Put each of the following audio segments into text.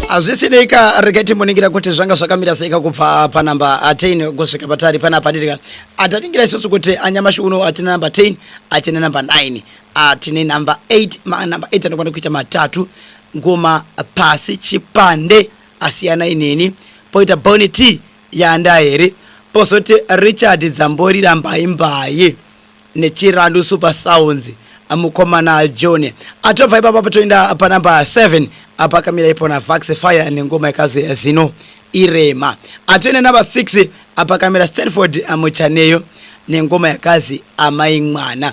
hazvisinei ka regai timboningira kuti zvanga zvakamira seika kubva panamba 10 kusvika patari panapa dirika ataningira isusu kuti anyamashi uno hatina namba 10 hatina namba 9 atine namba 8 manamba 8 anokwana kuita matatu ngoma pasi chipande asiyana ineni poita boni t Yanda here pozoti Richard Dzamborira mbai mbai nechirandu super sounds mukomana John atobva ipapa patoenda panumber 7 apa akamira ipona Vax Fire nengoma ikazi zino irema atoenda number 6 apa akamira Stanford Muchaneyo nengoma yakazi amai mwana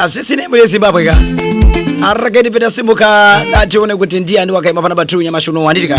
asisi nembo yezimbabwe ka araketi peta simuka datione kuti ndiyani wakaima pana batru nyamashi uno wanditi ka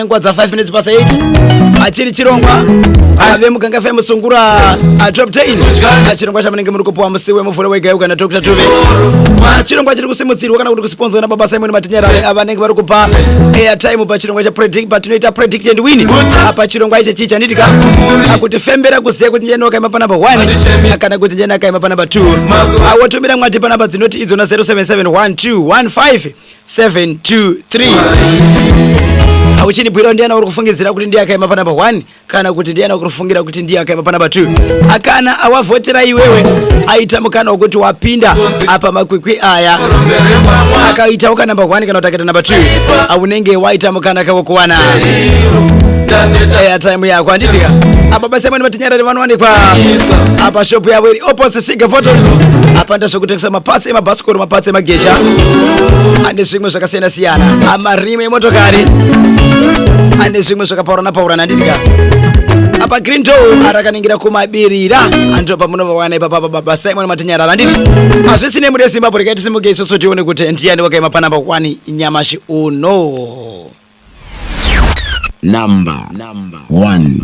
nguva dza 5 minutes pasa 8 achiri chirongwa ave muganga fm sungura ah, top 10 Ah, chirongwa chamunenge muri kupuwa musi wemuvhure wegayuka na dr tuve Ah, chirongwa chiri kusimudzirwa kana kuti kusiponzwa na baba simon matinyarare avanenge vari kupa airtime pachirongwa cha predict- patinoita predict and win Ah, pachirongwa ichi chii chanditika Ah, kuti fembera kuziva kuti njeni wakaima panamba 1 kana kuti njeni akaima panamba 2 Ah, wotumira mwati panamba dzinoti idzona 077121 723 uchindibwirawo ndiyana uri kufungidzira kuti ndiye akaima panamba 1 kana kuti ndiyana uri kufungira kuti ndiye akaima panamba 2 akana awavhotera iwewe aita mukana wekuti wapinda apa makwikwi aya akaitawo kanamba 1 kana kuti akaita namba 2 aunenge waita mukana kavo kuwana airtime yako handitika apa basi amwene vatinyarari vanowanikwa apa shop yavo iri opposite siga photos apa ndazvekutengesa mapasi emabhasikoro mapatsi emageja ane zvimwe zvakasiyana siyana amarimu emotokari ane zvimwe zvakapaurana paurana ndidya apa green door arakanengira kumabirira andiro pamunovawana ipapa pa baba simon matinyarara ndiri hazvisi nemuri yezimbabwe rekai tisimuke isusu tione kuti ndiyani wakaima panamba kwani nyamashi uno Number one.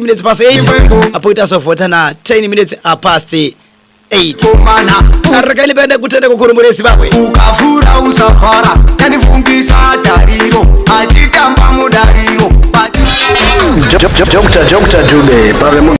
minutes past 8 apo itazovhota na 10 minutes apast 8 rega ndipende kutenda kukuru muri zimbabwe ukavhura usavhara tandifungisa tariro achitamba mudariro Dr. Dube pave